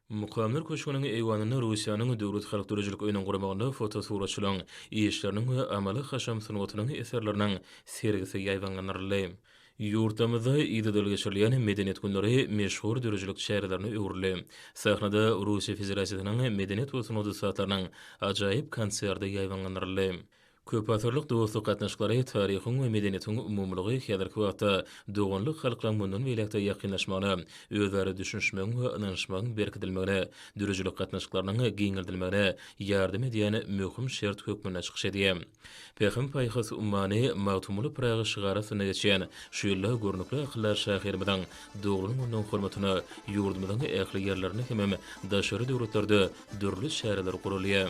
Mukamlar köşgüniň eýwanynda Russiýanyň Döwlet halk döredijilik öýüniň guramagynda fotosuratçylaryň işleriniň we amaly-haşam sungatynyň eserleriniň sergisi ýaýbaňlandyryldy. Ýurtlarymyzda yzly-yzly geçirilýän Medeniýet günleri meşhur döredijilik çärelerine öwrüldi. Sahnada Russiýa Federasiýasynyň medeniýet we sungat ussatlarynyň ajaýyp konserti ýaýbaňlandyryldy. Köpasyrlyk dostluk gatnaşyklary, taryhyň we medeniýetiň umumylygy häzirki wagtda doganlyk halklaryň mundan beýläk-de ýakynlaşmagyna, özara düşünişmegiň we ynanyşmagyň berkidilmegine, dürüjilik gatnaşyklarynyň giňeldilmegine ýardam edýän möhüm şert hökmünde çykyş edýär. Pähim-paýhas ummany Magtymguly Pyragy şygary astynda geçýän şu ýylda görnükli akyldar şahyrymyzyň doglan gününiň hormatyna ýurdumyzyň ähli ýerlerinde hemem daşary döwletlerde dürli çäreler guralýar.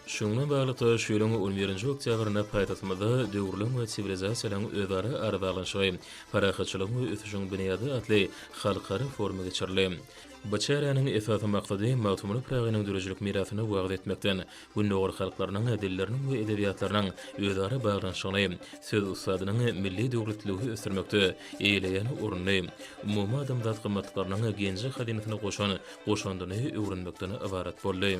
Şunuň bilen baglylykda, şu ýylyň on birinji oktýabrynda paýtagtymyzda Döwürleň we siwilizasiýalaryň özara arabaglanyşygy, parahatçylygyň we ösüşiň binýady atly halkara forumy geçirildi. Bu çäräniň esasy maksady Magtymguly Pyragynyň döredijilik mirasyny wagyz etmekden, Gündogar halklarynyň dilleriniň we edebiýatlarynyň özara baglanyşygyny, söz ussadynyň milli döwletliligi ösdürmekde eýeleýän ornuny, umumadamzat gymmatlyklarynyň genji-hazynasyna goşan goşandyny öwrenmekden ybarat boldy.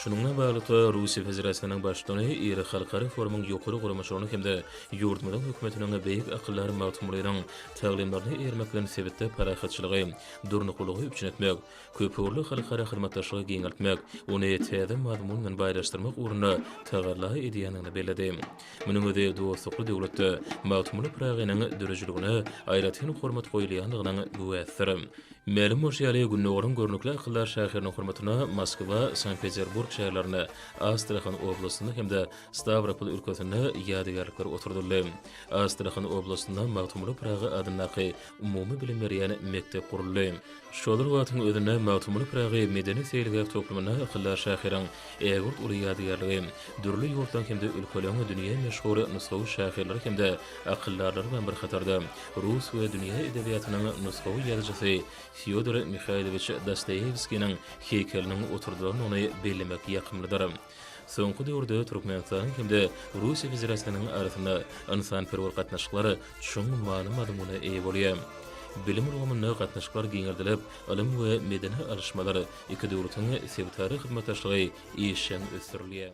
Şunuňla baglylykda, Russiýa Federasiýasynyň Baştutany iri halkara forumyň ýokary guramaçylygyny hem-de ýurdumyzyň Hökümetiniň beýik akyldar Magtymgulynyň taglymlaryna eýermek bilen sebitde parahatçylygy, durnuklylygy üpjün etmek, köpugurly halkara hyzmatdaşlygy giňeltmek, ony täze mazmun bilen baýlaşdyrmak ugrunda tagalla edýändigini belledi. Munuň özi dostlukly döwletde Magtymguly Pyragynyň döredijiligine aýratyn hormat goýulýandygynyň güwäsidir. Mälim bolşy ýaly, Gündogaryň görnükli akyldar şahyrynyň hormatyna Moskwa, Sankt-Peterburg şäherlerinde, Astrahan oblastynda hem-de Stawropol ülkesinde ýadygärlikler oturdyldy. Astrahan oblastynda Magtymguly Pyragy adyndaky umumy bilim berýän mekdep guruldy. Şol bir wagtyň özünde Magtymguly Pyragy medeni-seýilgäh toplumyna akyldar şahyryň Ägirt uly ýadygärligi, dürli ýurtlaryň hem-de ülkeleriň dünýä meşhur nusgawy şahyrlary hem-de akyldarlary bilen bir hatarda, rus we dünýä edebiýatynyň nusgawy ýazyjysy Fýodor Mihaýlowiç Dostoýewskiniň heýkeliniň oturdylandygyny bellemek ýakymlydyr. Soňky döwürde Türkmenistanyň hem-de Russiýa Federasiýasynyň arasynda ynsanperwer gatnaşyklar çuň many-mazmuna eýe bolýar. Bilim ulgamynda gatnaşyklar giňeldilip, Ylym we medeni alyşmalar, iki döwletiň sebitara hyzmatdaşlygy işjeň ösdürilýär.